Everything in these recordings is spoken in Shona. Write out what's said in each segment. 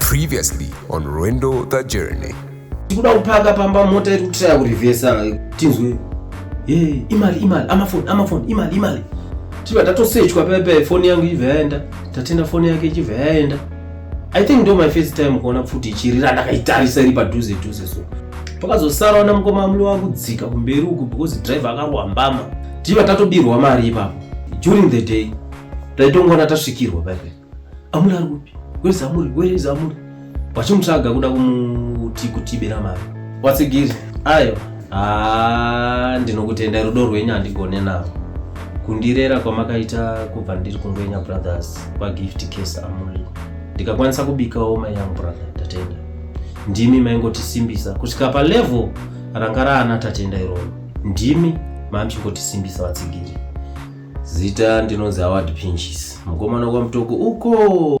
Previously on Rwendo the Journey. Tikuda kupaka pamba mota iri kutiraya kurivhesa tinzwe. Hey, imali imali amafoni amafoni imali imali. Tiba tatosechwa pepe foni yangu ibva yaenda. Tatenda foni yake ichibva yaenda. I think ndo my first time kuona pfuti ichirira ndakaitarisa iri padhuze dhuze so. Pakazosara wana mukoma amuli wakudzika kumberi uku because driver akarowa mbama. Tiba tatobirwa mari ipapo. during the day taitongoona tasvikirwa paipe amuri ari kupi wese amuri wese amuri vachimutsvaga kuda kumuti kutibira mari watsigiri ayo haa ndinokutenda rudo rwenyu handigone navo kundirera kwamakaita kubva ndiri kungwenya brothers kwagift case amuri ndikakwanisa kubikawo mai yangu brother tatenda ndimi maingotisimbisa kusvika palevel ranga raana tatenda iroro Ndimi mamuchingotisimbisa vatsigiri. Zita ndinonzi Howard Pinches, mukomana kwaMutoko uko.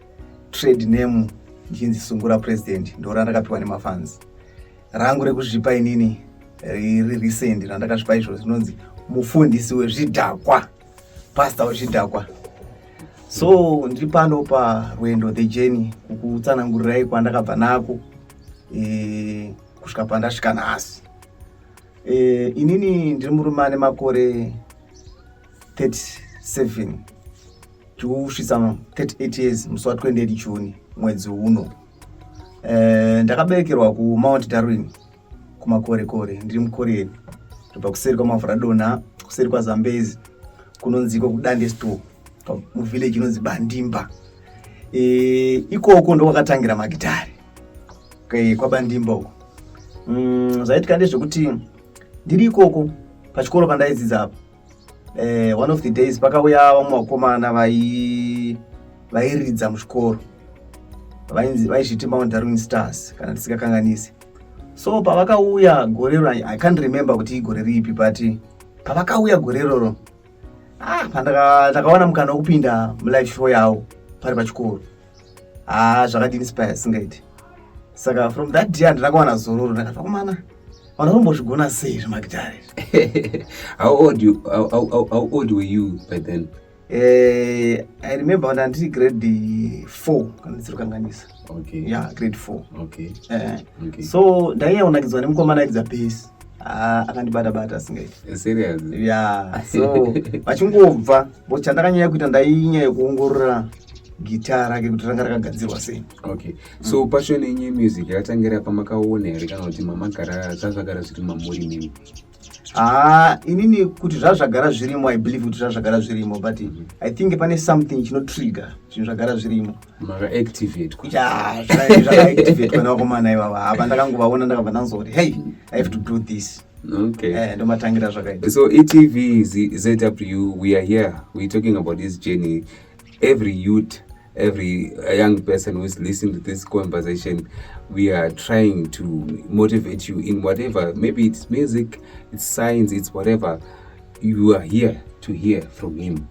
trade name ndichinzi sungura president ndo randakapiwa nemafans rangu rekuzvipa inini riri recent randakazvipa izvo rinonzi mufundisi wezvidhakwa pastor wezvidhakwa so ndiri pano parwendo the journey kukutsanangurirai kwandakabva nako e, kusvika pandasvika nhasi e, inini ndiri murume ane makore 37 tikusvitsa 38 years musi wa 28 june mwedzi uno eh, ndakaberekerwa kumount darwin kumakorekore ndiri mukoreni ndobva kuseri kwamavhura dona kuseri kwazambezi kunonziko kudande store muvillage inonzi bandimba eh, ikoko ndokwakatangira magitari eh, kwabandimba uko mm, zvaitika ndezvekuti ndiri ikoko pachikoro pandaidzidza apo eh, one of the days pakauya vamwe vakomana vairidza muzvikoro vaizviti mount darwin stars kana tisingakanganisi so pavakauya gore ro i can't remember kuti igore ripi but pavakauya gore roro ah, ndakawana mukana wekupinda mulive show yavo pari pachikoro haa zvakadini spaya singaiti saka from that day handina kuwana zororo ndakati vakomana vanhu vanombozvigona sei zvemagitare how old you how, how, how old were you by then eh i remember when ndiri grade 4 kana ndisiri kanganisa okay yeah grade 4 okay eh okay. so ndaiya unakidzwa nemukomana aidza base Ah, akandibata bata asingaiti ya so vachingobva bo chandakanyanya kuita ndainyaya yekuongorora gita rake kuti ranga rakagadzirwa sei okay so passion yenyu yemusic yakatangira pamakaona here kana kuti mamagara zvazvagara zviri mamuri mimi haa ah, inini kuti zvazvagara zvirimo i believe kuti zvazvagara zvirimo but i think pane something chinotrigger zvinhu zvagara zvirimo maka activate yeah zvaka activate kana komana iwa hapa ndakangovaona ndakabva ndanzoti hey i have to do this okay eh ndomatangira zvakaita so etv zw we are here we talking about this journey every youth every young person who is listening to this conversation we are trying to motivate you in whatever maybe it's music it's science it's whatever you are here to hear from him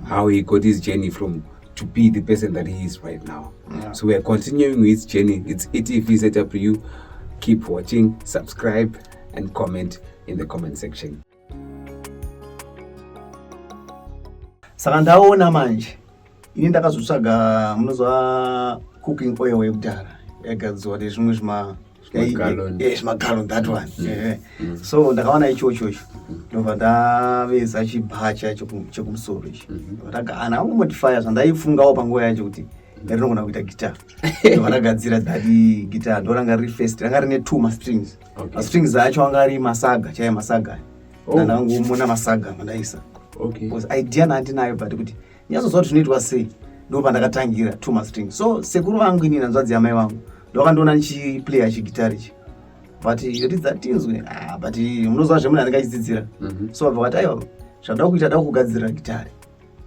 how he got his journey from to be the person that he is right now yeah. so weare continuing his journey it's etv set up you keep watching subscribe and comment in the comment section saka ndaona manje ini ndakazotsvaga munoziva cooking oil yekudhara yagadzirwa nezvimwe zvima zvimagallon eh, that one mm. Eh. Mm. so ndakawana ichocho icho mm. ndobva ndaveza chibhacha chekumusoro ichi ndakagana angomodifya zvandaifungawo panguva yacho kuti ndarinogona kuita guitar ndobva ndagadzira dadi guitar ndoranga riri first ranga rine two mastrings mastrings acho anga ari masaga chaiye masaga oh. ndandangomona masaga mandaisa idea naandinayo but kuti nyatsoziva kuti zvinoitwa sei ndo pandakatangira two months training so sekuru vangu inini hanzvadzi yamai vangu ndovakandiona ndichiplayer chigitari chi but ridza tinzwe ah, but munoziva zvemunhu anenge achidzidzira mhm. so vabva vati aiwa zvandaa kuita daa kugadzirira gitari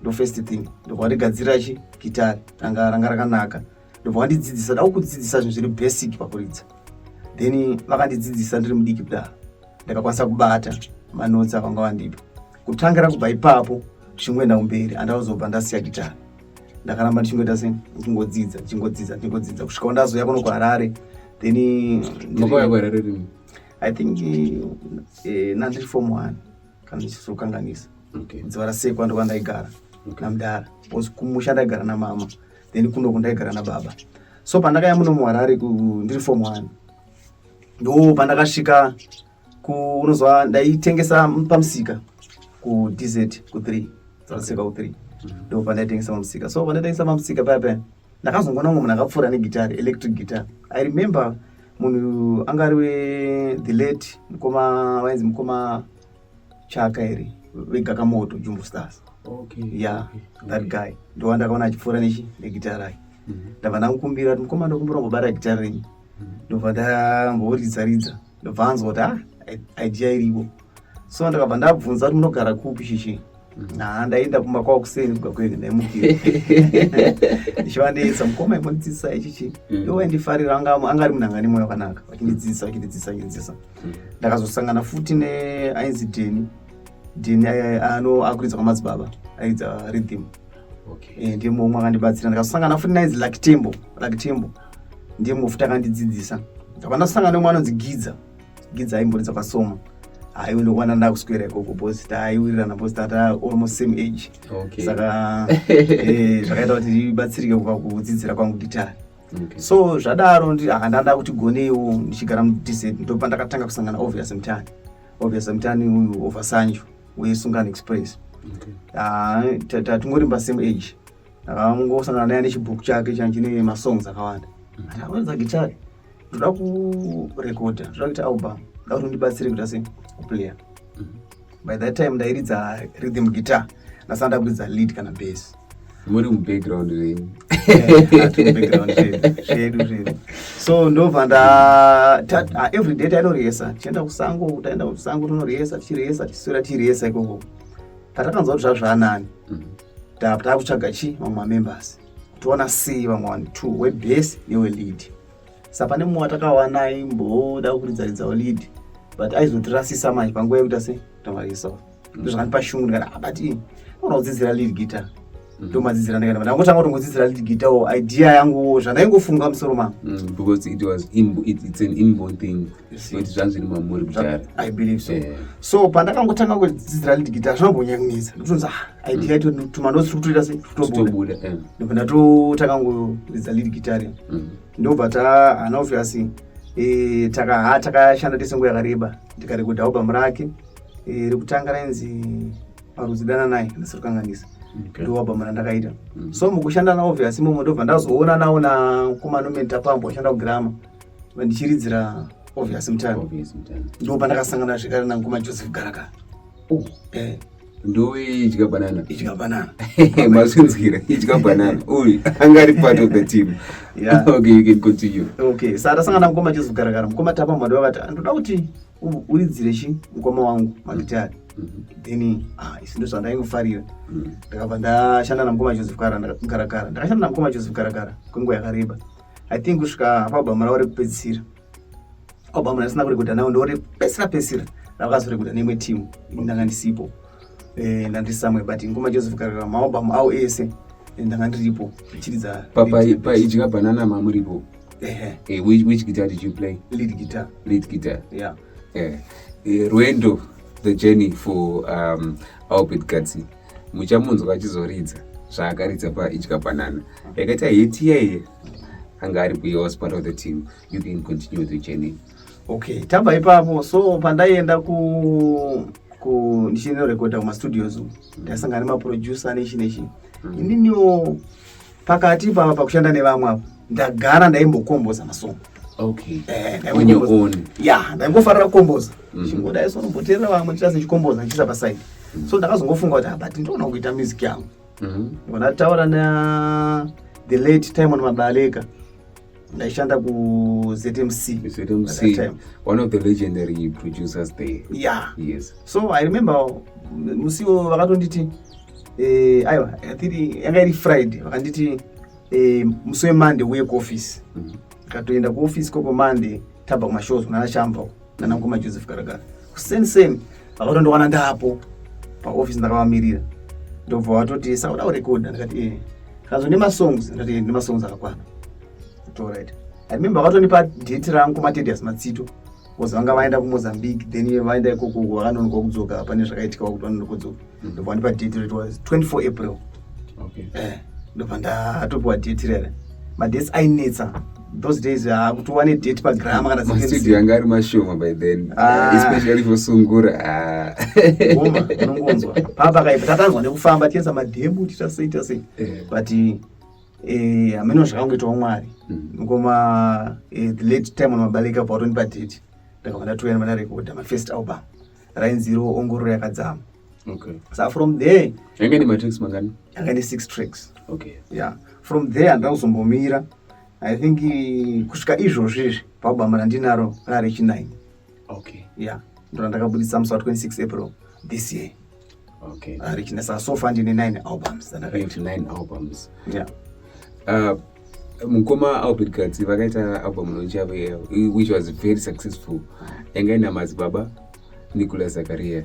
ndo first thing ndobva vandigadzirira chi gitari ranga ranga rakanaka ndobva vandidzidzisa daa kudzidzisa zvinhu zviri basic pakuridza then vakandidzidzisa ndiri mudiki kudaro ndakakwanisa kubata manotsi avanga vandipa kutangira kubva ipapo zvichingoenda kumberi andazobva ndasiya gitara ndakaramba ndichingoita se ndichingodzidza ndichingodzidza ndichingodzidza kusvika wandazouya kuno kuharare then i think eh, nandiri form one kana ndichizokanganisa dziva rasekwa ndokwa ndaigara namdara bcause kumusha ndaigara namama then kunoku ndaigara nababa so pandakaya muno muharare ndiri form one ndo pandakasvika unozwa ndaitengesa pamusika kudz ku3 dzarasika ku3 ndo pandaitengesa pamusika so pandaitengesa pamusika paya paya ndakazongoona umwe munhu akapfuura negitari electric guitar i remember munhu anga ari wethe late mukoma vainzi mukoma chaka here vegakamoto jumbo stars okay. ya yeah, okay. that guy ndova ndakaona achipfuura nechi negitari ake mhm. ndabva ndamukumbira kuti mukoma ndokumbira ngobara gitari renyu mhm. ndobva ndamboridza ridza ndobva anzwa kuti ah, idea iripo so ndakabva ndabvunza kuti munogara kupi shishi mm. ha ndaenda kumba kwavo kuseni kubva kwege ndaimukira ndichiva ndeisa mukoma imondidzidzisa ichichi mm. iwo aindifarira anga ari munhu anga nemoyo wakanaka vachindidzidzisa vachindidzidzisa vachindidzidzisa mm. ndakazosangana futi neainzi deni deni ano akuridza kwamadzibaba aidza ridhim eh, ndiye mumwe akandibatsira ndakazosangana futi nainzi lakitembo lakitembo ndiye mufuta akandidzidzisa ndabva ndasangana nomwe anonzi gidza gidza aimboridza kwasoma haiwe ndokuwana ndakuswera ikoko bcause taiwirirana bcause tata almost same age saka eh, zvakaita kuti ndibatsirike kubva kudzidzira kwangu gitari so zvadaro ah, ndanda kuti goneiwo ndichigara mudised ndopa ndakatanga kusangana obvious mtani obvious mtani uyu oversanjo wesungan express ah, tatingorimba same age akangosangana naye nechibhuku chake chine masongs akawanda akanza gitare ndoda kurekodha ndoda kuita album ndoda kuti ndibatsire kuita se kuplayer by that time ndairidza rhythm guitar ndasana ndakuridza lead kana base muri mubackground zvenyu zvedu zvedu so ndobva nda ah, every day tainorihesa tichienda kusango taenda kusango tonorihesa tichirihesa tichiswera tichirihesa ikoko patakanzwa kuti zvazvaanani mm-hmm. Tava kutsvaga chi vamwe mamembers toona c vamwe vanhu two webase newelead sa pane mumwe watakawana aimboda kuridzaridzawo lead but aizotirasisa manje panguva yekuti ase tavarisa ndozvakandipa shungu ndikati abati ah, ona kudzidzira lead guitar mm. ndomadzidzira ndikati ndangotanga kutongodzidzira lead guitar wo idea yanguwo zvandaingofunga musoro mangu mm, because it was it's an inborn thing zvanzviri mamuri kudhara i believe so yeah. so pandakangotanga kudzidzira lead guitar zvinombonyangunisa ndokutonza ah, idea yacho mm. tumanotsi tiri kutoita sei tutobuda eh. ndipo ndatotanga kudzidza lead guitar mm. ndobva ta hana obvious eh, takaha takashanda tese nguva yakareba ndikarekodha album rake eh, rekutanga rainzi marudzi dana naye ndasiri kukanganisa ndowabhama randakaita mm. so mukushanda nawo obvious imomo ndobva ndazoona nawo nakomanomentapambo ashanda kugirama mm. vandichiridzira obvious mutano ndipo pandakasangana zvekare nangu majoseph garaka oh. eh. ndoidya banana idya banana mazvinzwira idya banana uyu anga ari part of the team yeah. okay you can continue okay sa tasangana mukoma joseph garakara mukoma tapa mwadi wakati ah, ndoda kuti uridzire chi mukoma wangu magitari mm -hmm. then ah, isi ndo zvandaingofarira mm. ndakabva ndashanda namukoma joseph garakara ndakashanda namukoma joseph garakara kwenguva yakareba i think kusvika paalbhamu ravo rekupedzisira albhamu randisina kurekodha nawo ndo repesira pesira rakazorekodha neimwe timu ndanga ndisipo eh, ndandisamwe but ngoma joseph karera maalbhamu awo ese eh, ndanga ndiripo chiridza paidya banana mamuripo eh, which guitar did you play lead guitar lead guitar yeah rwendo the journey for um, albert gatsi muchamunzwa achizoridza zvaakaridza paidya banana yakaita heti yaiye anga ari kuye was part of the team you can continue with the journey okay tabva ipapo so pandaienda ku ku ndichinorekodha kumastudios ndasangana nemaproducer nechi nechi mm. ininiwo mm. pakati ipapa pakushanda nevamwe avo ndagara ndaimbokomboza masongo okay. eh, ya ndaingofarira kukomboza mm -hmm. chingodai so nomboteerera vamwe ndichita sechikomboza ndichiisa pasaidi mm -hmm. so ndakazongofunga kuti ah, but ndinoona kuita music yangu mm -hmm. ndataura na the late timon mabaleka ndaishanda kuzmc zmc one of the legendary producers there yeah yes so i remember musiwo vakatonditi eh, aiwa athiri yanga iri friday vakanditi eh, musi wemonday uye kuoffice mm-hmm. ndikatoenda kuoffice koko monday tabva kumashows kunana shamba uko nana mukoma joseph garagara kuseni seni vakatondowana ndaapo paofisi ndakavamirira ndobva vatoti sauda kurekodha ndikati ee kanzwa nemasongs ndikati ee nemasongs akakwana torit i remember vakatonipa date rangu matedias matsito bcause vanga vaenda kumozambique then vaenda ikoko vakanonokwa kudzoka pane zvakaitika wakuti vanonokodzoka ndobva ndipa date it was 24 april okay eh ndobva ndatopiwa date rere madates ainetsa those days ah, kuti uwane date pagrama kana mastudio yanga ari mashoma by then ah. especially for sungura ah. uma unongonzwa papa kaipa takanzwa nekufamba tiedza madhemu tiita sei tiita sei eh. but eh, hameno eh, zvakangoitawo mwari ngoma mm. eh, the late time unomabaleka pautonipa date ndakabva ndatoyana manarekodha mafirst album rainzi iro ongororo yakadzama okay. sa from there yanga ine matracks mangani yanga ine six tracks okay. yeah. from there handina kuzombomira i think kusvika izvozvi izvi pabama randinaro rarechinaini okay. yeah. ndona ndakabudisa musi wa 26 april this year okay arichinesa so far ndine 9 albums dzandakaita 9 albums yeah uh, mukoma albert katsi vakaita album nochave which was very successful yanga ina madzibaba nicolas zakaria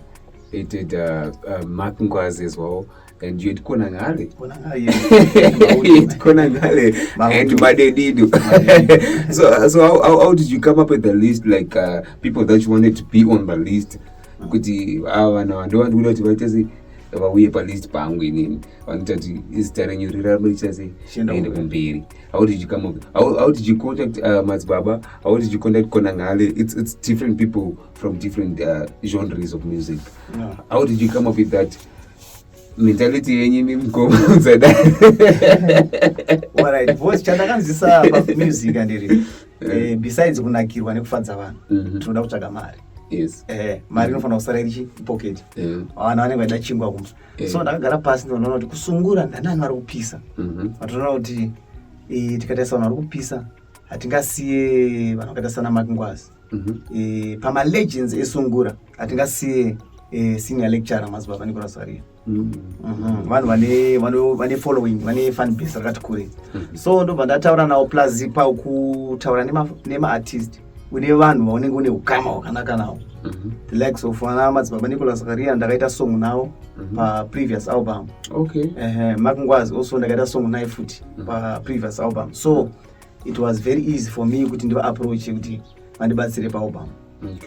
ited uh, uh, mark ngwazi as well and you had kona ngale had kona ngale and madedido so, so how, how, how did you come up with the list like uh, people that you wanted to be on the list kuti ava vana vando vandikuda kuti vaita sei vauye palist pangu inini vanoita kuti izita renyu rirarame richita sei ende kumberi how did you come up how, how did you contact uh, madzibaba how did you contact konangale it's, it's different people from different uh, genres of music yeah. how did you come up with that mentality yenyu imi mukoma udzadai alright voice chandakanzisa pamusic andiri eh, besides kunakirwa nekufadza vanhu mhm. tinoda kutsvaga mari yes eh mari inofanira kusara iri pocket eh vana vanenge vaida chingwa kumba eh. so ndakagara pasi ndinoona kuti kusungura ndanani vari kupisa mhm. vatoona kuti eh, tikatarisa vanhu vari kupisa hatingasiye vanhu vakaita sana makingwazi mhm. eh, pamalegends esungura hatingasiye senior lecturer mazibaba nicolas varia Mhm. vanhu vane vane following vane fan base rakati kure mhm. so ndobva ndataura nawo plus pakutaura nemaartist une vanhu vaunenge une ukama hwakanaka nawo mhm. the likes of ana madzibaba nicolas karia ndakaita song nawo paprevious album makungwazi also ndakaita song naye futi paprevious album so it was very easy for me kuti ndivaapproache kuti vandibatsire paalbum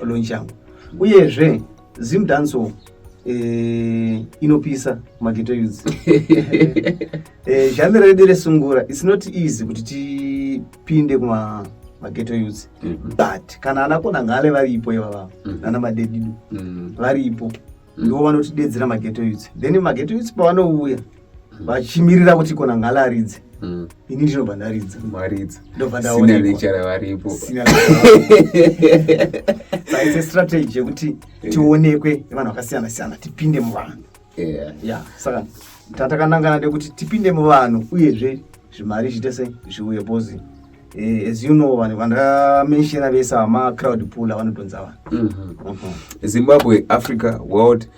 launch yangu uyezve Zim Danso eh, inopisa mageto youths. eh, genre redu resungura it's not easy kuti tipinde kuma mageto youths mm -hmm. but kana ana kona ngale varipo ivava mm -hmm. nana madedidu mm -hmm. varipo mm -hmm. ndivo vanotidedzera mageto youths then mageto youths pavanouya vachimirira kuti kona ngalaridze mm. ini ndinobva ndaridza varidza ndobva ndaonekwa varipo saise strategy yekuti eh. tionekwe vanhu vakasiyana siyana tipinde muvanhu ya saka tatakanangana ndekuti tipinde muvanhu uyezve zvimari zviite se zviuye bhozi Eh, as you know vanhu vandamenshena vese vamacrowd pooler vanotonza vanhu mhm. mhm. zimbabwe africa world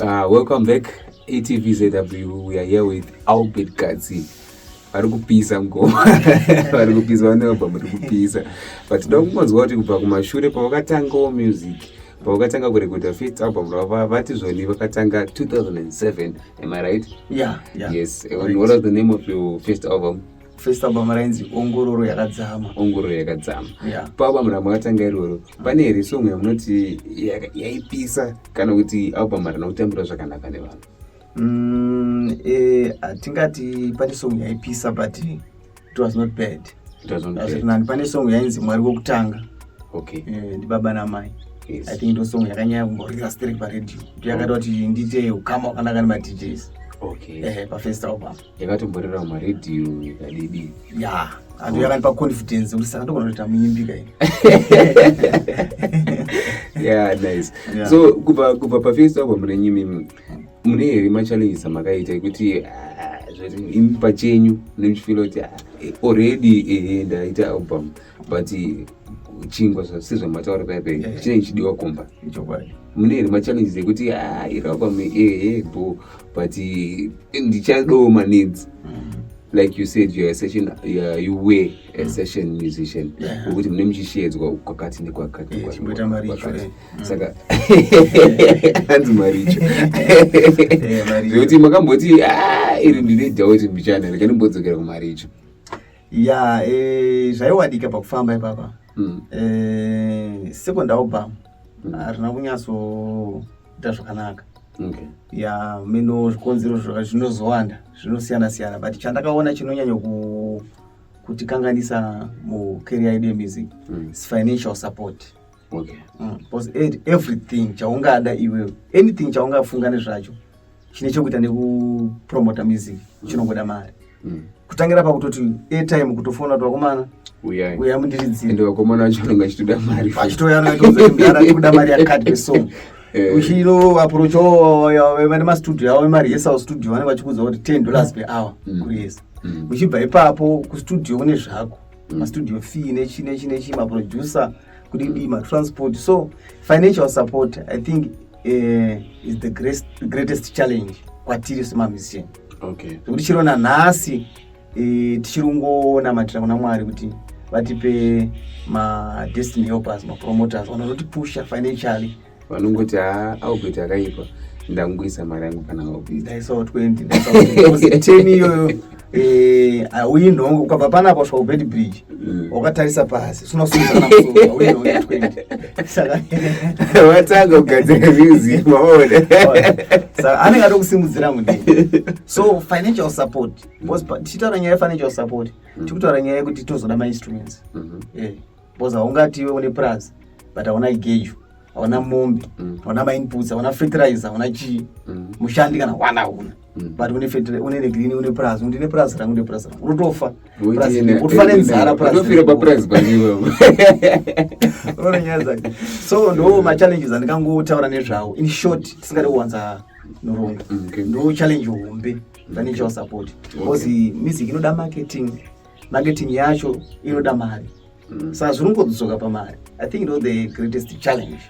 Uh, welcome back ATVZW. We are here with Albert Katsi. vari kupisa ngoma vari kupisa vanobva muri kupisa but toda kungonzwa kuti kubva kumashure pavakatangawo music pavakatanga kurekodha first album rava vati zvoni vakatanga 2007 am i right yeah, yeah. yes and what was the name of your first album first album rainzi ongororo yakadzama ongororo yakadzama yeah. paalbum ramakatanga iroro pane here song yamunoti yaipisa kana kuti album harina kutambira zvakanaka nevanhu mm, eh, hatingati pane song yaipisa but it was not bad azvirinani pane song yainzi mwari wokutanga okay. eh, ndibaba namai yes. i think ndo song yakanyaya kumborira sterek paredio ndo yakati kuti ndiite ukama wakanaka nemadjs okay. eh, pafirst album yakatomborera mumaradio ikadidi ya andu yakandipa confidence kuti saka ndogona kuita muimbi kai ya nice so kubva kubva pafirst album renyimimi mune here machallenges amakaita ekuti ah, imi pachenyu nemuchifila kuti ah, already ehe ndaita album but chingwa sezvamataura paipai chinenge chidiwa kumba mune here machallenges ekuti ah, iri album ehe bo but eh, ndichadoo manidzi mm. like you said you're a session you're, you were a mm. session musician wekuti mune muchishedzwa kwakati nekwakati eh, mm. saka hanzi maricho zvekuti makamboti ah, iri ndine dhauti mbichana rekanimbodzokera kumaricho ya eh, zvaiwadika pakufamba ipapa sekondaobama harina kunyatso kuita zvakanaka okay. ya mino zvikonzero zvinozowanda zvinosiyana siyana but chandakaona chinonyanya ku, kutikanganisa mucareer yedu yemusic mm. is financial support okay. mm. because everything chaungada iwewe anything chaungafunga nezvacho chine chekuita nekupromota music chinongoda mari mm. kutangira pakutoti atime kutofona kuti vakomana uya mundiridzirende vakomana vacho anenge achitoda mari achitouya anoitozara tikuda mari yakati pesong eh. uchino approach vane mastudio avo vemarehearsal studio vanenge vachikuudza kuti ten dollars per hour mm. kuresa mm. uchibva ipapo kustudio kune zvako mastudio fee nechi nechi nechi maproducer kudidii matransport so financial support i think eh, is the greatest, greatest challenge kwatiri semamusician okay. zvekuti chiro nanhasi eh, tichiri kungonamatira kuna mwari kuti vatipe madestiny helpers mapromoters vanozotipusha financially vanongoti haa aubert akaipa ndangoisa mari yangu kana aubert ndaisawa 20 ndaisawa 10 iyoyo Eh, auyi nhongo ukabva panapa kusvika kubed bridge mm. wakatarisa pasi sunasaka kugadzira music maone anenge atokusimudzira mude so financial support because tichitaura nyaya yefinancial support mm. tikutaura nyaya yekuti tozoda mainstruments bcause mm-hmm. eh, haungati iwe une plus but hauna igeju hauna mombe mm. hauna mainputs hauna fertilizer hauna chii mm. mushandi kana hwana hauna mm. but une fertilizer une negrini une purazi undi ne purazi rangu ne purazi rangu unotofa utofa nenzara puraziofira papurazi paniwo unoona nyaya dzake so ndo machallenges andikangotaura nezvawo in short tisingade kuwanza noronga ndo challenge hombe ndanichawo support because music inoda marketing marketing yacho inoda mari mm. saka zviri kungodzoka pamari i think ndo the greatest challenge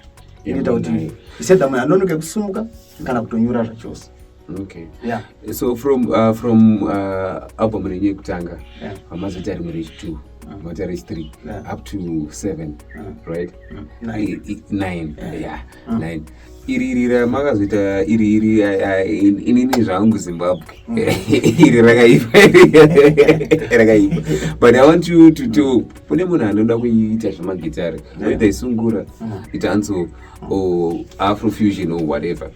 inoita kuti isedha munhu anonoke kusumuka kana kutonyura zvachose okay yeah. so from uh, from uh, album renyu yekutanga yeah. amazoti ari murechi two mota rechi three up to seven right nine yeah mm. nine iri iri ramakazoita iri iri inini zvangu zimbabwe mm. iri rakaipa rakaipa but i want you to to kune munhu anoda kuita zvemagitare oita isungura ita anso afrofusion or whatever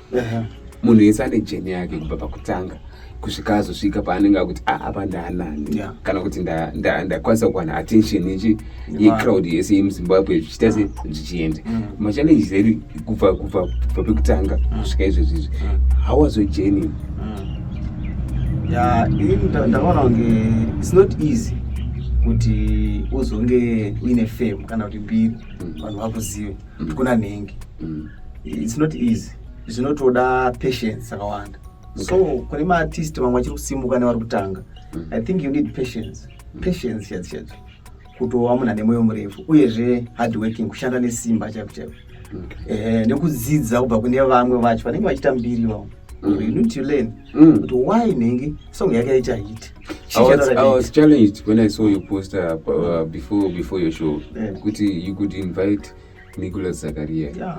munhu yese ane jeni yake kubva pakutanga kusvika azosvika paanenge akuti ah, apa ndaanani yeah. kana kuti ndakwanisa kuwana attention yechi yecrowd yese yemuzimbabwe zvichiita se zvichienda mm. machallenges edu kubva kubva pekutanga mm. kusvika izvezvi izvi mm. how was your journey ya ini ndakaona kunge its not easy kuti uzonge uine fame kana kuti mbiri vanhu vakuzive kuti kuna nhengi its not easy zvinotoda patience akawanda so kune maartist vamwe vachiri kusimuka nevari kutanga mm. i think you need patience mm. patience chati chati kutova munhu ane mwoyo murefu uyezve hard working kushanda nesimba chaiko chaiko mm. eh, nekudzidza kubva kune vamwe vacho vanenge vachiita mbiri vavo you need to learn kuti why nhingi song yake yaita hit I was, I was challenged when I saw your poster uh, uh before before your show yeah. kuti you could invite Nicholas Zakaria yeah.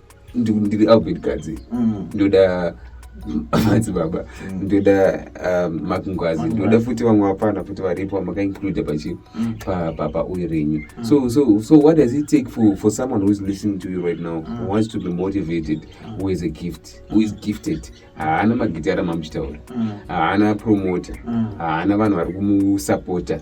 ndiri albert gadzi mm. ndoda madzibaba mm. ndoda um, makungwazi ndoda futi vamwe vapana futi varipo vamakaincude pachi mm. pauye renyu mm. so so so what does it take for, for someone who is listening to you right now who wants to be motivated who is a gift who is gifted haana magitara mamuchitaura haana promoter haana vanhu vari kumusapota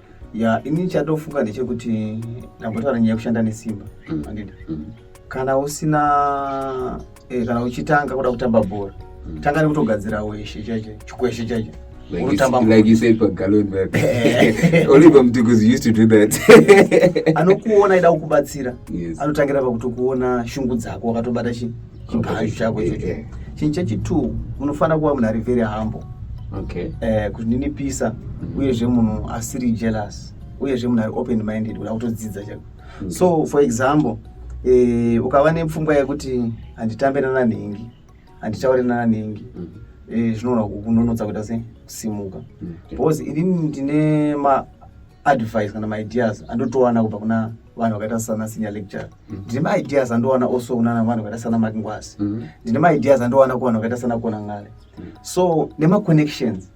ya ini chatofunga ndechekuti ndambotaura nyaya yekushanda nesimba mm. andida mm. kana usina eh, kana uchitanga kuda kutamba bhora mm. tanga nekutogadzira weshe chacho chikweshe chacho anokuona aida kukubatsira anotangira pakutokuona shungu dzako wakatobata chii chigaro chako ichocho eh. chinhu chechitwo unofanira kuva munhu ari very humble okay. eh, kuzvininipisa mm -hmm. uyezve munhu asiri jealous uyezve munhu ari open minded kuda kutodzidza chako mm -hmm. so for example eh, ukava nepfungwa yekuti handitambe nana nhingi handitaure nana nhingi mm -hmm Eh, zvinogona kunonotsa kuita se kusimuka mm. because inini ndine advice kana maideas andotowana kubva kuna vanhu vakaita sana senior lecture mm. ndine maideas andowana also kunana vanhu vakaita sana makingwasi mm. ndine maideas andowana kuvanhu vakaita sana kuona ngale mm. so nemaconnections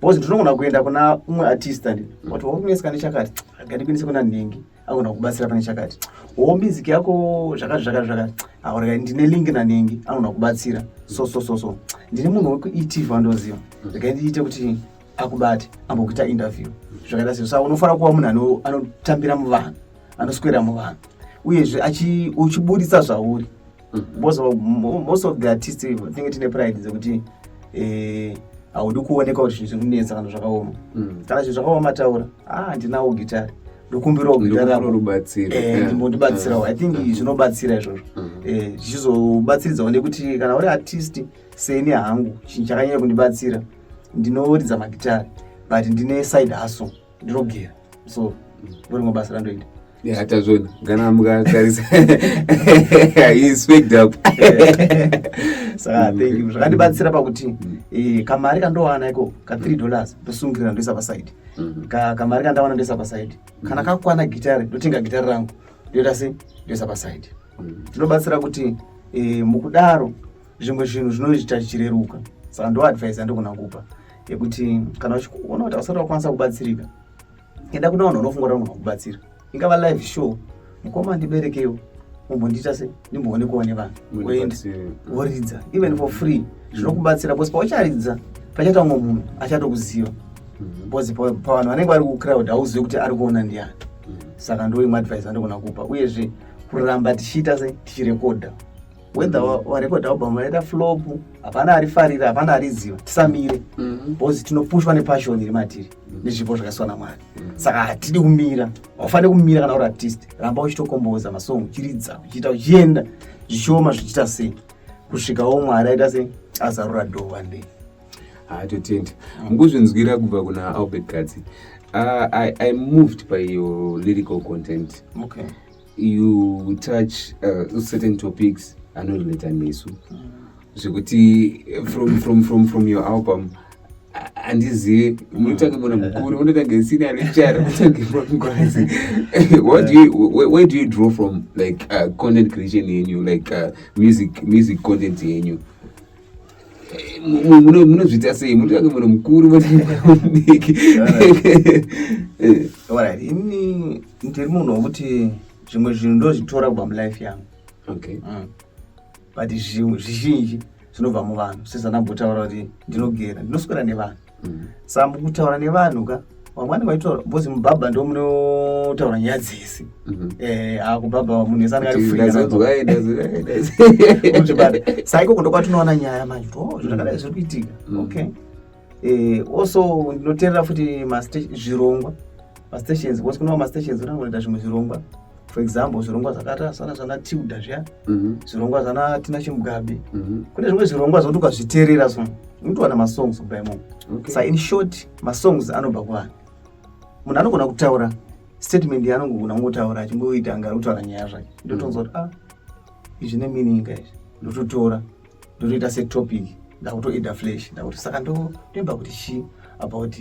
because ndinogona kuenda kuna umwe artist andi wati wakunetsa kane chakati agandikwanise kuna nhingi agona kubatsira pane chakati wo music yako zvakati zvakati zvakati aureka ndine link nanhingi anogona kubatsira so so so so ndine munhu wekuitv andoziva rega ndiite kuti akubate ambokuita interview zvakaita sei sa unofanira kuva munhu anotambira muvanhu anoswera muvanhu uyezve uchiburitsa zvauri mm-hmm. most of the artist tinenge tine pride dzekuti eh, haudi kuoneka kuti zvinhu zvinonetsa kana zvakaoma mm. kana zvinhu zvakaoma taura a ah, ndinawo gitari ndokumbirawo gitarambotibatsirawo eh, mm. i think mm. zvinobatsira izvozvo eh, zvichizobatsiridzawo nekuti kana uri artist seni hangu chinhu chakanyanya kundibatsira ndinoridza magitari but ndine side hustle ndinogera so ndorimwe basa randoita yeah tazvona kana mukatarisa he speaked up saka thank you zvakandibatsira pakuti mm. eh, kamari kandowana iko ka 3 dollars ndosungirira ndoisa paside mm. kamari kandawana ndoisa paside mm. kana kakwana gitari ndotenga gitari rangu ndoita se ndoisa paside tinobatsira kuti eh, mukudaro zvimwe zvinhu zvinoita zvichireruka saka ndo advice yandogona kupa yekuti kana uchiona kuti ausati wakwanisa kubatsirika enda kuna vanhu unofunga kuti vanogona kubatsira ingava live show mukoma ndiberekewo umbondiita se ndimboonekwa nevanhu woenda woridza even for free mm. zvinokubatsira bcause paucharidza pachaita umwe munhu achatokuziva mm-hmm. bcause pavanhu vanenge vari kucrowd hauzive kuti ari kuona ndiani mm. saka ndoimwe advice andogona kupa uyezve kuramba tichiita se tichirekodha whether warekodha album waita flop hapana arifarira hapana ariziva tisamire mm-hmm. bcause tinopushwa nepassion iri matiri mm-hmm. nezvipo zvakasiwa namwari mm-hmm. saka hatidi kumira haufanire kumira kana uri artist ramba uchitokomboza masong uchiridza uchiita uchienda zvichioma zvichiita sei kusvikawo mwari aita sei azarura doo one day hatotenda ah, nguzvinzwira kubva kuna albert katsi uh, ah, I, i moved by your lyrical content okay. you touch uh, certain topics anorelata nesu zvekuti from, from, from, from your album handizive munotange bona mukuru munotange sina richara mutange mangwazi where do you draw from like uh, content creation yenyu like uh, music, music content yenyu munozviita sei munotange munhu mukuru mudiki orit ini ndiri munhu wekuti zvimwe zvinhu ndozvitora kubva mulife yangu okay mm. but zvizhinji zvinobva muvanhu sezvanambotaura kuti ndinogera ndinoswera nevanhu mm. saa mukutaura nevanhu ka vamwe vanenge vachitaura bcause mubhabha ndo munotaura nyaya dzese mhm. eh, akubhabha munhu ese anenge arifriaibata saa ikoko ndokwatinoona nyaya manje kuti oh, zvakadai zviri kuitika mm. okay eh, also ndinoteerera futi zvirongwa mastations because kune mastations unenge unoita zvimwe zvirongwa for example zvirongwa zvakata sana zvana tilda zviya mhm. zvirongwa zvana tina chimugabe mhm. kune zvimwe zvirongwa zvokuti ukazviteerera so unotowana masongs kubva imomo so in short masongs anobva kuvanhu munhu anogona kutaura statement yaanongogona kungotaura achingoita anga kutaura nyaya zvake mhm. ndotonzwa kuti ah izvi ne meaning izvi ndototora ndotoita setopic ndakutoida flash ndakuti saka ndoimba kuti chii about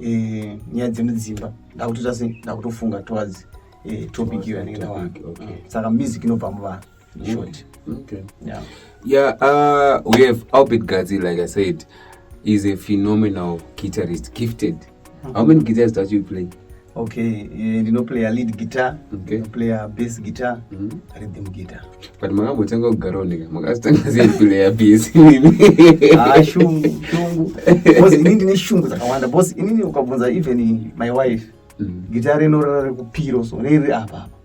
eh, nyaya dzemudzimba ndakutoita se ndakutofunga towards eh, topic iyo yanenge ndawana mm. saka music inobva muvanhu mm. short okay. yeah. Yeah, uh, we have Albert Gazi, like I said, is a phenomenal guitarist, gifted. Mm -hmm. How many guitars does you play? Okay, eh, ndinoplaya lead guitar, okay. ndinoplaya bass guitar, mm -hmm. rhythm guitar. But makambotanga kugara oneka, makazotanga sei playa bass inini? Ah, shungu, shungu. Because inini ndine shungu dzakawanda. Because inini ukabvunza even my wife, mm -hmm. guitar rinorara rekupiro so riri apa apa.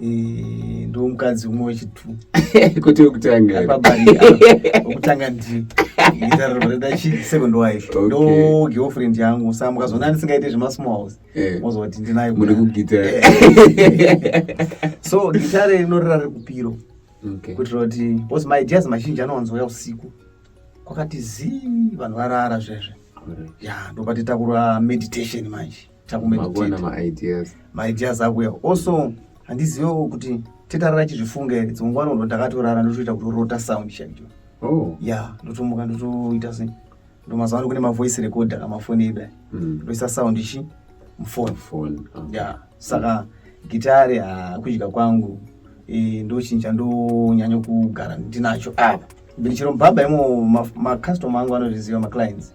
Eh, ndo mukadzi umwe wechitu kuti wekutangawekutanga ndiiaeond wife ndo girlfriend yangu sa mukazoona ndisingaite zvemasmalls eh. mozoti ndinayo muri kugitare so gitare rinorira riri kupiro kuitira kuti bcause maideas mazhinji anowanzouya usiku kwakati zii vanhu varara zvezve ya ndopatitakura meditation manje takumagona maideas maideas akuya also handizivewo kuti tetarara chizvifunga here dzimwe nguva nondo ndakatorara ndotoita kutorota sound chaicho oh. ya ndotomuka ndotoita se ndo mazuva ano kune mavoice recorder amafoni edu aya hmm. ndoisa sound ichi mufoni ya saka gitare hakudya kwangu e, ndochinja ndonyanya kugara ndinacho apa ndichero mbaba imo macustoma angu anozviziva maclients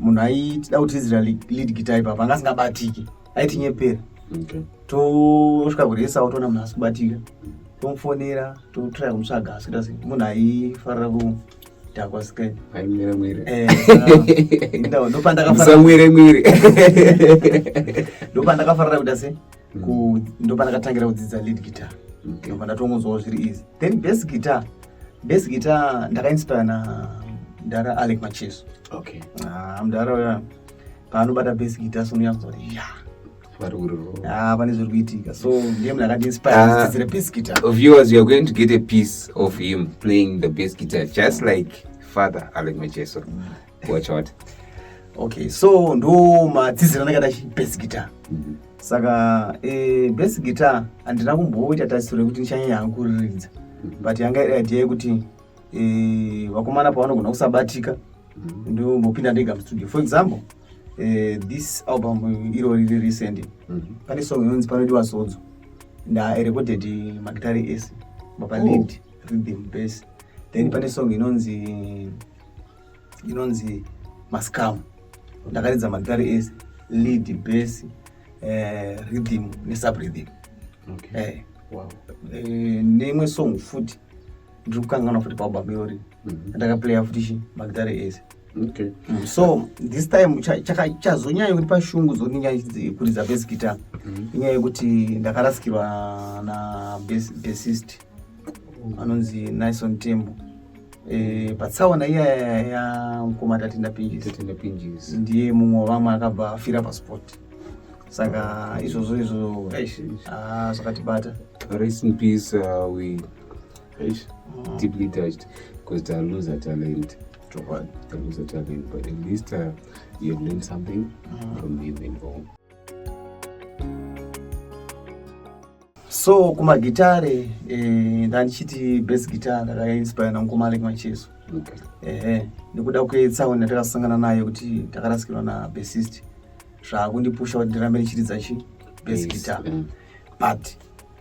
munhu aitida kuti izira lead guitar ipapa anga asingabatiki aitinyepera tosvika kuresa otoona munhu asikubatika tomufonera totraya kumutsvaga asikuita se munhu aifarira kudhakwa skendopandakamwire mwire ndopandakafarira kuita se ndopandakatangira kudzidza lead guitar ndopandatongonzwawo zviri easy then bas guitar bas guitar ndakainspire na mdara alec macheso okay. ah, mdara uya paanobata bas guitar sonuyazwa kuti ya ah, pane zviri kuitika so ndiye munhu akatiinspiredzidzire ah, bas guitar viewers you are going to get a piece of him playing the bas guitar just like father alec macheso mm. watch out okay so ndo madzizira ndakada best guitar mm -hmm. saka e, best guitar handina kumboita tarisiro yekuti ndichanyanya hangu kuriridza mm -hmm. but yanga iri idea yekuti e, vakomana pavanogona kusabatika mm -hmm. ndombopinda ndega mustudio for example e, this album iro riri recent mm -hmm. pane song inonzi panodiwa sodzo ndaerecorded magitari ese mapalid oh. rhythm base then pane song inonzi inonzi mascam ndakaridza magitare ese lead base eh, rhythm nesubrythm okay. eh, wow. eh, neimwe song futi ndiri kukanganwa futi paalbum iyori mm -hmm. ndakaplaya futi chi magitare ese okay. mm, so this time chazonyanya cha, cha kuti pashungu zoninya kuridza base guitar mm -hmm. inyaya yekuti ndakarasikirwa na bassist bas anonzi nison tembo e, patsaona iya yamukoma tatenda pinjisi ndiye mumwe wavamwe akabva afira pasport saka izvozvo izvo ah, zvakatibata rest in peace uh, we Eish, mm. deeply touched because they lose a talent. To what? They lose a talent, but at least uh, you have learned something mm. from him and all. so kumagitare eh, ndandichiti best guitar ndakainspire nangumalek macheso ehe nekuda kwetsauni yatakasangana nayo kuti takarasikirwa nabesist zvaakundipusha kuti ndirambe ndichiridza chi best yes. guitar mm. but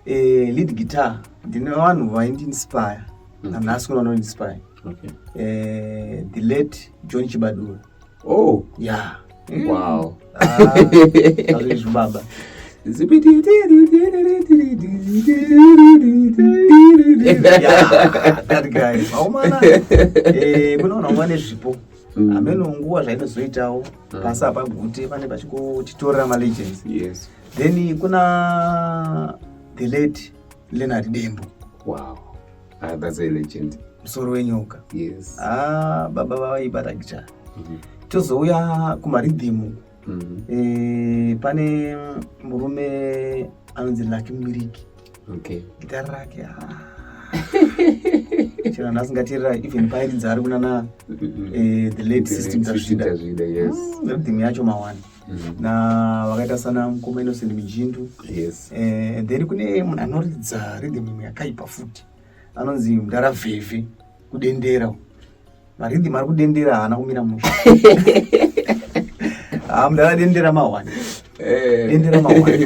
eh, lead guitar ndine vanhu vaindiinspire mm. nanhasi kuna vanoinspire okay. eh, the late john chibadura oh yeah mm. wow zvibaba kunoona umwa nezvipo hameno nguva zvainozoitawo pasi apa gute pane pachikotitorera malegends yes then kuna the late leonard dembo wow Ah, that's a legend. Musoro wenyoka. Yes. Ah, baba vavaibata gicha. Mm -hmm. Tozouya kumaridhimu. Mm -hmm. E, pane murume anonzi Lucky Mbiriki. Okay. Gitara rake. Ah. chero nhasi ngatirira even pairi dzaari kunana mm-hmm. eh, the late system tazvida mm, rhythm yacho mawani mm. na vakaita sana mukoma innocent mijindu yes. eh, then kune munhu anoridza rhythm imwe yakaipa futi anonzi mdara vhevhe kudendera marhythm ari kudendera haana kumira musha ah, mdara dendera mahwani eh. dendera mahwani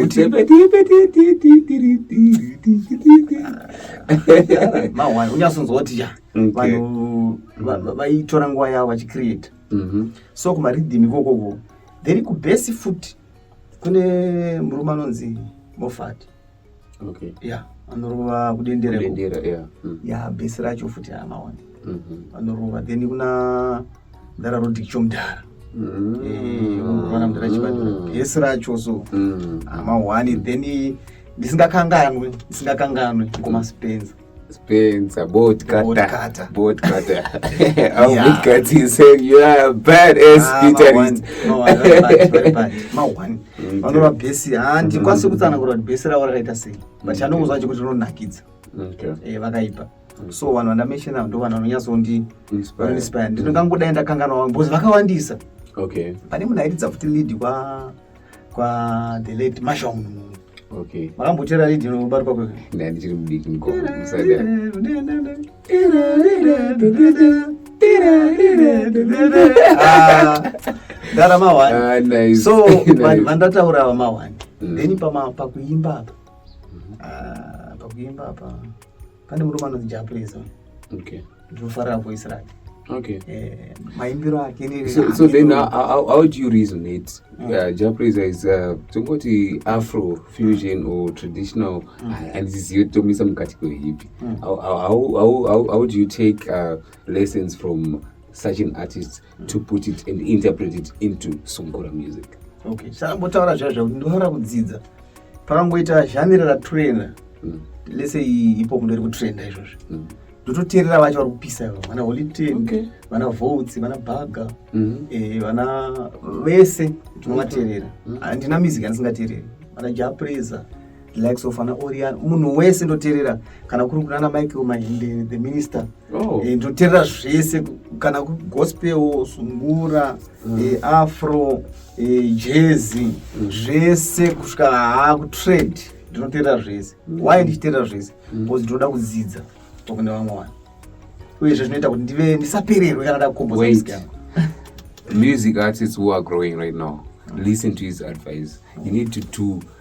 mahwani unyasonzwa kuti ya mm, vanhu vaitora nguva yavo vachicreata mm -hmm. so kumaridhimi kokoko then kubhesi futi kune murume anonzi mofat okay. yeah anorova kudenderera yeah. mm. yeah, bhesi racho futi amaona mm -hmm. anorova then kuna mdara rodik chomdara mm. eh, unoona mdara chibandura mm. bhesi racho so mm. amahwani then ndisingakanganwe ndisingakanganwe kumaspenza Spins, a boat cutter. Boat cutter. Boat cutter. Our yeah. boat cutter is saying you are a bad ass ah, guitarist. No, I don't like very bad. Ma one. Mm, Vanova bhesi. Ah, ndikwanise mm-hmm. kutsanangura kuti bhesi ravo rakaita sei. But mm-hmm. chanongonzwa chacho kuti rinonakidza. Okay. Eh, vakaipa. Mm. So vanhu vandameshena ndo vanhu vanonyatsondi inspire. Ndinongangodai ndakanganwa because vakawandisa. Okay. Pane munhu airidza futi lead kwa kwa the late Marshall Munhu. Okay. Makambotera lead inobatwa kwe. Ndani ndichiri mudiki mukoma musada. Ndara mawani. Ah, nice. So vandataura ava mawani. Mm. Then pama pakuimba apa. Mm-hmm. Ah, pakuimba apa. pane murume anonzi japrison okay ndinofarira voice rake okay eh, maimbiro ake so, so then how, how, how do you reason it mm. uh, japrison is uh, tongoti afro fusion or traditional mm. uh, and ziziyo tomisa mukati kwehipi mm. how, how, how, how, how do you take uh, lessons from such an artist to put it and interpret it into sungura music okay shambotaura zviya zvakuti ndinofanira kudzidza pakangoita zhanira ratrena mm. lese ipo mundo iri kutrenda izvozvo mm. ndototeerera vacho vari kupisa ivo vana holiten vana votes vana baga mm-hmm. eh, vana vese tinovateerera handina music andisingateereri vana japresa like so fana orian munhu wese ndoterera kana kuri kunana michael mahinde the minister oh. e, ndoterera zvese kana gospel sungura mm. e, afro e, jezi mm. zvese kusvika haa kutrade ndinoterera zvese mm. why ndichiterera zvese mm. because mm. ndinoda kudzidza tokune vamwe vanhu uyezve zvinoita kuti ndive ndisapererwe kana ndakukomboza music artists who are growing right now listen to his advice you need to do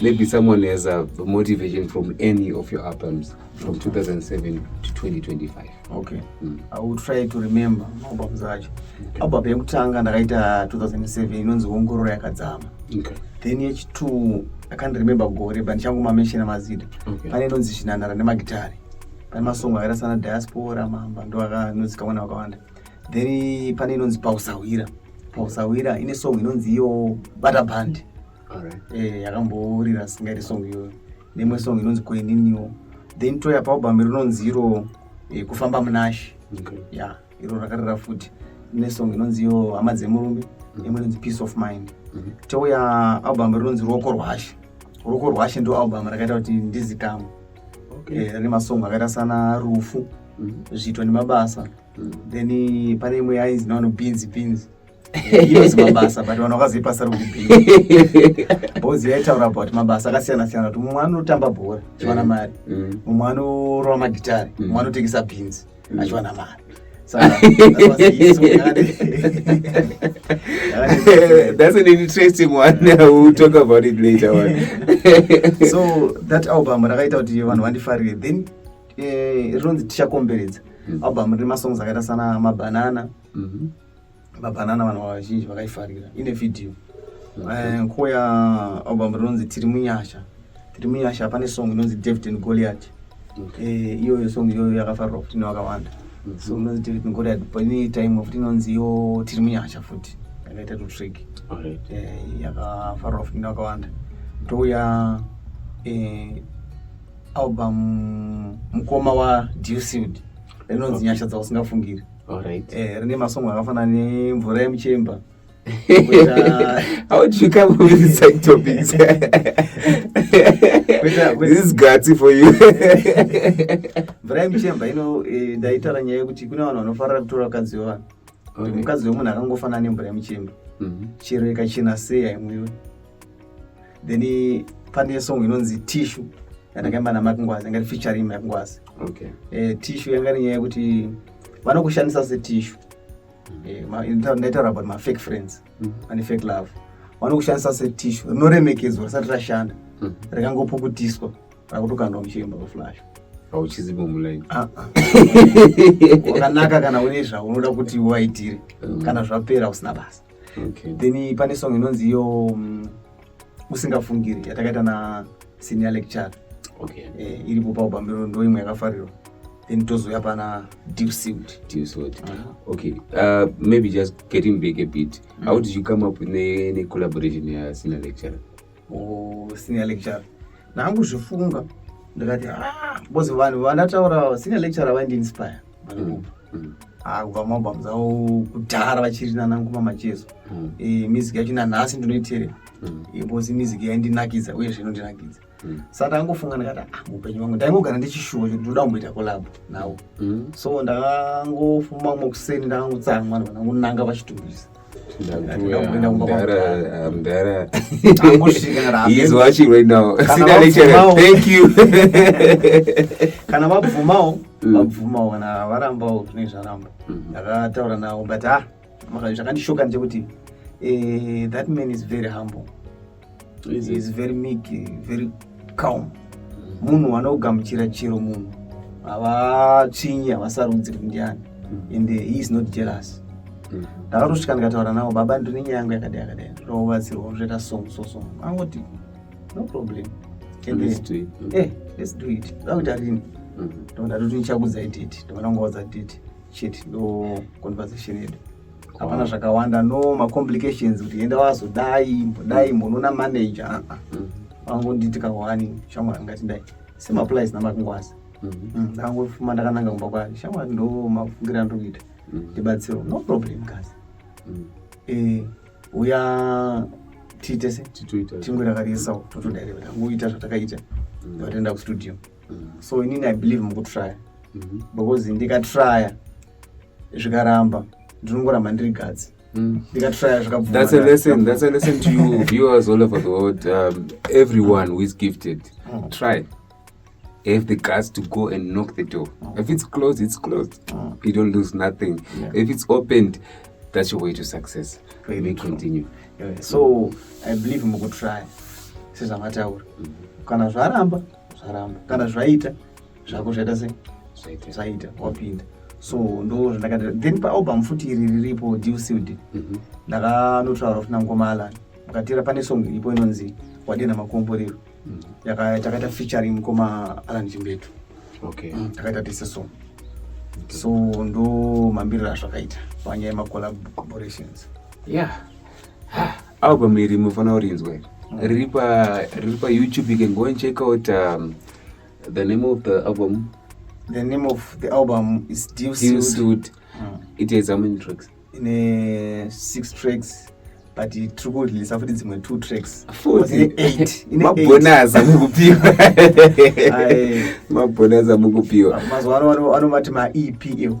Maybe someone has a motivation from any of your albums from 2007 to 2025. Okay. Mm. I will try to remember albums acho. Okay. Album yekutanga ndakaita 2007 inonzi Ongororo yakadzama. Okay. Then yechitu I can't remember gore but ndichangu mamenshina mazida. Okay. Pane inonzi Shinanara nemagitari. Pane masongo akaita sana Diaspora, Mamba ndo akanozikamwa nevakawanda. Then pane inonzi Pausahwira. Pausahwira ine song inonzi iyo Bata Band. eh, yakambourira right. singairi song iyoyo nemwe song inonzi koininiwo then toya paubhami rinonzi iro eh, kufamba munashe okay. yeah, iro rakarira futi nesong inonzi iyo hama dzemurume mm. imwe inonzi peace of mind mm -hmm. touya album rinonzi ruoko rwashe ruoko rwashe ndo album rakaita kuti ndizikama okay. e, eh, rine masong akaita sana rufu mm -hmm. zviito nemabasa mm -hmm. then pane imwe yainzi naono binzi binzi inozi mabasa but vanhu vakazoipasa rokubhii bhozi yaitaura about mabasa akasiyana siyana kuti mumwe anotamba bhora achiwana mm. mari mm. mumwe anorova magitari mm. mumwe anotengesa bhinzi achiwana mari that's an interesting one we'll talk about it later one so that album rakaita kuti vanhu vandifarire then eh, rinonzi tichakomberedza album rine masongs akaita sana mabanana mm-hmm. Babanana vanhu vazhinji vakaifarira ine video eh, nguva ya album rinonzi tiri munyasha tiri munyasha pane song inonzi david and goliat eh, iyoyo song iyoyo yakafarirwa futi nevakawanda mhm. so inonzi david and goliat pane time futi inonzi iyo tiri munyasha futi yakaita tutrick eh, yakafarirwa futi nevakawanda ndouya album mukoma waducid rinonzi nyasha dzausingafungiri Alright. Eh, rine masongo akafana nemvura yemuchemba. How did you come up with these side topics? this is gutsy for you. Mvura yemuchemba ino eh, ndaitaura nyaya yekuti kune vanhu vanofarira kutora vakadzi wevanhu. Kuti mukadzi wemunhu akangofanana nemvura yemuchemba. Mhm. Chero ikachena sei haimwiwe. then pane song inonzi tishu yandakaimba namakngwazi yanga iri featuring makngwazi okay. eh, tishu yanga iri nyaya yekuti vanokushandisa setishu eh, ndaitaura about my fake friends mm -hmm. and fake love vanokushandisa setishu rinoremekedzwa risati rashanda mm -hmm. rikangopukutiswa rakutokandwa muchiremba kweflash hauchizivi mulaini ah, ah. wakanaka kana une zvaunoda kuti uvaitire mm. kana zvapera usina basa okay. then pane song inonzi iyo mm, usingafungiri yatakaita na senior lecture okay. eh, iripo paubambiro ndo imwe yakafarirwa then tozouya pana dewsuit dewsuit uh -huh. okay uh, maybe just getting back a bit mm. how did you come up necollaboration ne, ne ya senior lecturer oh, senior lecturer nangu zvifunga ndikati ah, bozi vanhu vandataura senior lecturer vaindiinspire mm. mm. Ah, kubva mabams avo kudhara vachiri nananguma machezo mm. eh, music yacho nanhasi ndinoiterera mm. eh, bozi music yaindinakidza uye zvinondinakidza mm. sa ndangofunga ndikati ah, mupenyu wangu ndaingogara ndichishuwa kuti ndoda kumboita kolabo nawo so ndakangofuma mumwe kuseni ndakangotsamwa ndvanangonanga vachitumbisa kana vabvumawo mm. vabvumawo kana varambawo zvine zvaramba mm-hmm. ndakataura navo but ha ah, zvakandishoka ndechekuti eh, that man is very humble is very meek very calm munhu anogamuchira chero munhu havatsvinyi havasarudzi kuti ndiani mm. and he is not jealous mm. ndakatosvika ndikataura navo baba ndine nyaya yangu yakadai yakadai ndoda kubatsirwa zvoita song so song angoti no problem eh, let's do it ndakuita rini mm. ndondatoti nichakudzai date ndonda kungaudza date chete ndo conversation yedu hapana zvakawanda no macomplications kuti enda wazodai mbodai mbonoona manager aa ah, ah. vangonditi mm. kawani shamwari ngati dai semaplies namakungwazi mm-hmm. mm, ndakangofuma ndakananga kumba kwake shamwari ndo mafungira ndokuita mm. ndibatsiro no problem kasi mm. eh, uya tiite se tingwe rakariisa totodaireva tangoita zvatakaita vatoenda kustudio so inini i believe mukutrya mm-hmm. because ndikatrya zvikaramba ndinongoramba ndiri gadzi mm. ndikatraya zvakabvumathats to you viewers all over the world um, everyone who is gifted mm. try have the guts to go and knock the door mm. if it's closed it's closed mm. you don't lose nothing yeah. if it's opened that's your way to success Very may continue yeah. so i believe mukutry sezvamataura mm -hmm. kana zvaramba zvaramba kana zvaita zvako zvaita sei zvaita wapinda so ndo zvandakati then paalbum futi iri riripo dewsud mhm. ndakanotaura futi nangoma alan mukatira pane song iripo inonzi wadena makomborero mhm. takaita featuring mukoma alan chimbetu mm, takaita tese song so ndo mambiriro azvakaita panyaya yemacollaborations ya album iri munofanira kurinzwa mm. riri payoutube you can go and check out um, The name of the album The name of the album is Deal Suit. Suit. Mm. It has how many tracks? In a six tracks. but tiri kureleasa futi dzimwe two tracks mabhonas amukupiwa mabhonas amukupiwa mazuva ano vanovati maep iwo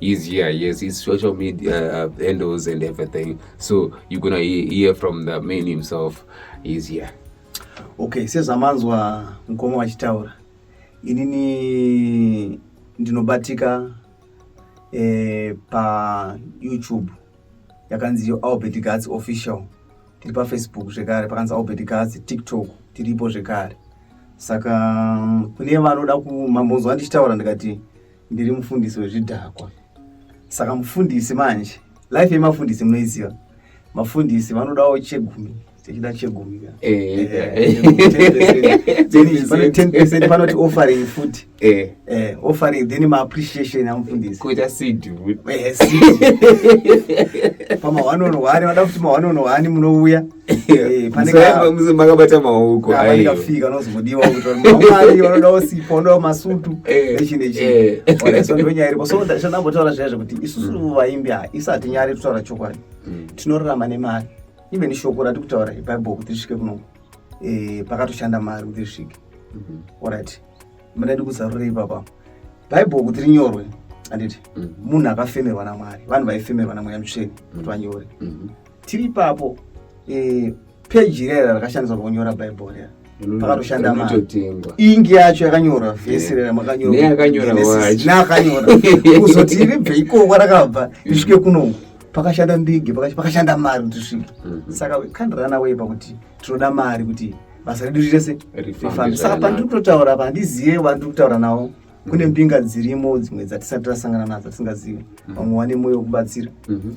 is here yes it's social media uh, handles and everything so you're gonna hear from the man himself is here okay sezamanzwa mkoma wachitaura inini ndinobatika eh, pa youtube yakanzi albert gats official tiri pafacebook zvekare pakanzi albert gats tiktok tiripo zvekare saka kune vanoda kumambonzwa ndichitaura ndikati ndiri mufundisi wezvidhakwa saka mufundisi manje life yemafundisi munoiziva mafundisi vanodawo chegumi tichida chegumi panoti offering futi eh. eh, offering then maappreciation amufundisikuita sidpama 1 on 1 vada kuti ma 1 on 1 munouya makabata maoko ikafika nozodiwa kutori vanoda osipo vanoda masutu echinechinondonyaya iripo so chandambotaura zviya zvekuti isusu mm. vaimbi ha isu hatinyari kutaura chokwadi mm. tinorarama nemari even shoko rati kutaura bible kuti risvike kuno eh, pakatoshanda mari kuti risvike mm-hmm. orit madaidi kuzarura ipapa bible kuti rinyorwe anditi mm. munhu akafemerwa namwari vanhu vaifemerwa namweya mutsveni kuti vanyore mm-hmm. tiri ipapo eh, peji rera rakashandiswa pakunyora bhaibheri rera mm, pakatoshanda mari ingi yacho yakanyora vhesi rera makanyoraneakanyora kuzoti ribve ikoko rakabva risvike kunoku pakashanda ndege pakashanda mari kuti svike mm-hmm. saka kandirana wei pakuti tinoda mari kuti basa redu rese rifambe saka pandiri kutotaura pa handizive vandiri kutaura navo kune mbinga dzirimo dzimwe dzatisati tasangana nadzo tisingazivi mm-hmm. vamwe vane mwoyo wekubatsira mm-hmm.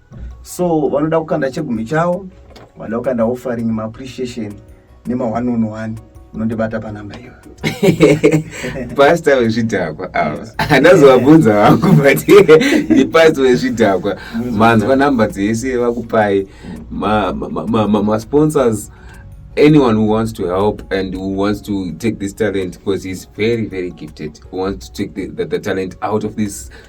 so vanoda kukanda chegumi chavo vanoda kukanda offering maappreciation nema one on one unondibata panamba iyo pasta wezvidhakwa ava handazovabvunza vangu but ndipasta wezvidhakwa manzwa namba dzese vakupai masponsors anyone who wants to help and who wants to take this talent because he's very very gifted who wants to take the, the, the talent out of this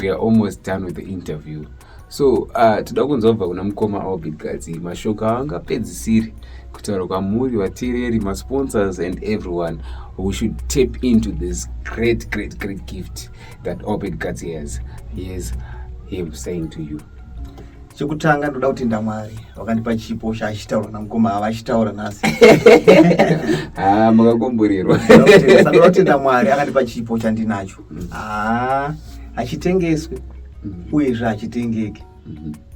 we are almost done with the interview so uh, toda kunzwa kubva kuna mukoma albert gadzi mashoko aangapedzisiri kutaura kwamuri vateereri masponsors and everyone we should tap into this great great great gift that albert gadzi has he has him saying to you chekutanga ndoda kutenda mwari wakandipa chipo chaachitaura namukoma ava achitaura nhasi ah, makakomborerwa ndoda kutenda mwari akandipa chipo chandinacho haa hachitengeswi uyezve hachitengeki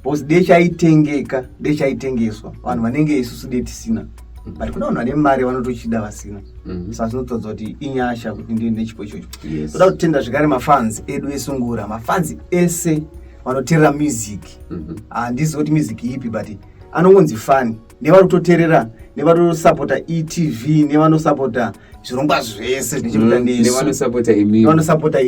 bcause de chaitengeka de chaitengeswa vanhu vanenge isusu de tisina but kuna vanhu vane mari vanotochida vasina mhm. saka zvinotodza kuti inyasha kuti ndii nechipo ichocho toda kutenda zvekare mafanzi edu esungura mafanzi ese vanoterera music mhm. handizi kuti music ipi but anongonzi fani nevari kutoterera nevari kusapota etv nevanosapota zvirongwa zvese zvinechiuanevanosapota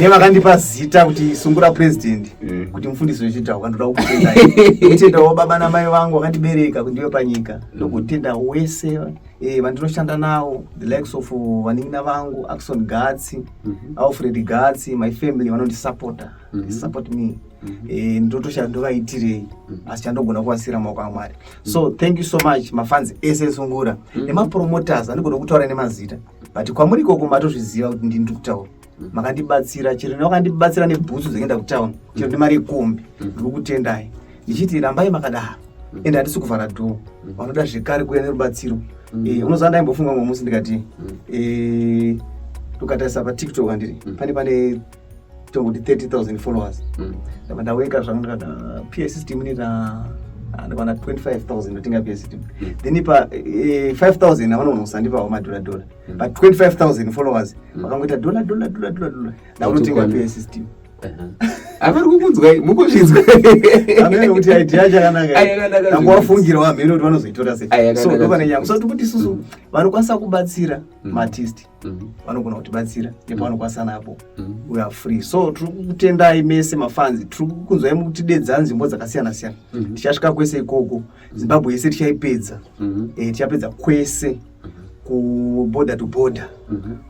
nevakandipa zita kuti sungura president mm. kuti mufundisi wechitawo kandoda kukutendaitendawo baba namai vangu vakandibereka kundiwe panyika ndokutenda mm. wese eh, vandinoshanda nawo the likes of uh, vanin'ina vangu axon gatsi mm-hmm. alfred gatsi my family vanondisapota mm-hmm. support me Mhm. Eh, ndotosha ndovaitirei mhm. asi chandogona kuvasira maoko amwari so mhm. thank you so much mafans ese esungura nemapromoters andigona kutaura nemazita but kwamuri ikoko matozviziva kuti ndini ndiri kutaura makandibatsira chero nevakandibatsira nebhutsu dzekuenda kutown chero nemari yekombi ndiri kutendai ndichiti rambai makadaro ende handisi kuvhara dhoo vanoda zvekare kuuya nerubatsiro eh, unoziva ndaimbofunga mumwe musi ndikati eh, ukatarisa patiktok andiri pane pane tokuti 30000 followers mm. ndabva ndaweka zvangu ndikada pa system inoita ndikwana 25000 ndotenga pa system mm. then ipa 5000 eh, avanoona kusandipawo madhola dhola mm. but 25000 followers vakangoita dhola dhola dhola dhola dhola ndakunotenga pa system avari kukunzwai mukuzvinzwa amene kuti idea chakanaka tangu wafungira wamhene kuti vanozoitora sei so ndopane nyaya so tikuti isusu vanokwanisa kubatsira matist Mm-hmm. vanogona kutibatsira mm-hmm. nepavanokwanisa napo mm-hmm. we are free so tiri kukutendai mese mafanzi tiri kukunzwai mukutidedza nzvimbo dzakasiyana siyana tichasvika kwese ikoko zimbabwe yese tichaipedza eh, tichapedza kwese kuborder to border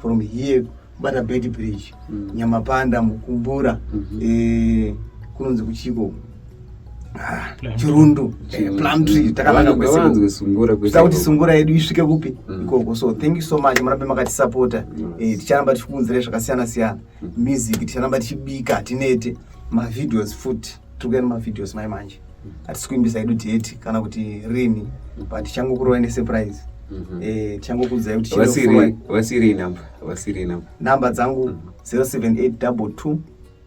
from here kubata bed bridge nyamapanda mukumbura eh, kunonzi kuchiko chirundu eh, plum tree mm. takananga kwesewanzwe sungura kuita kuti sungura yedu isvike kupi mm. ikoko so thank you so much murambe makatisapota eh, ticharamba tichikuunzira zvakasiyana siyana mm. music ticharamba tichibika tinete mavideos futi tiri kuenda mavideos mai manje hatisi kuimbisa yedu date kana kuti rini but tichangokurovai nesurprise mm-hmm. eh, tichangokuudzai kuti vasiri namba dzangu 078 22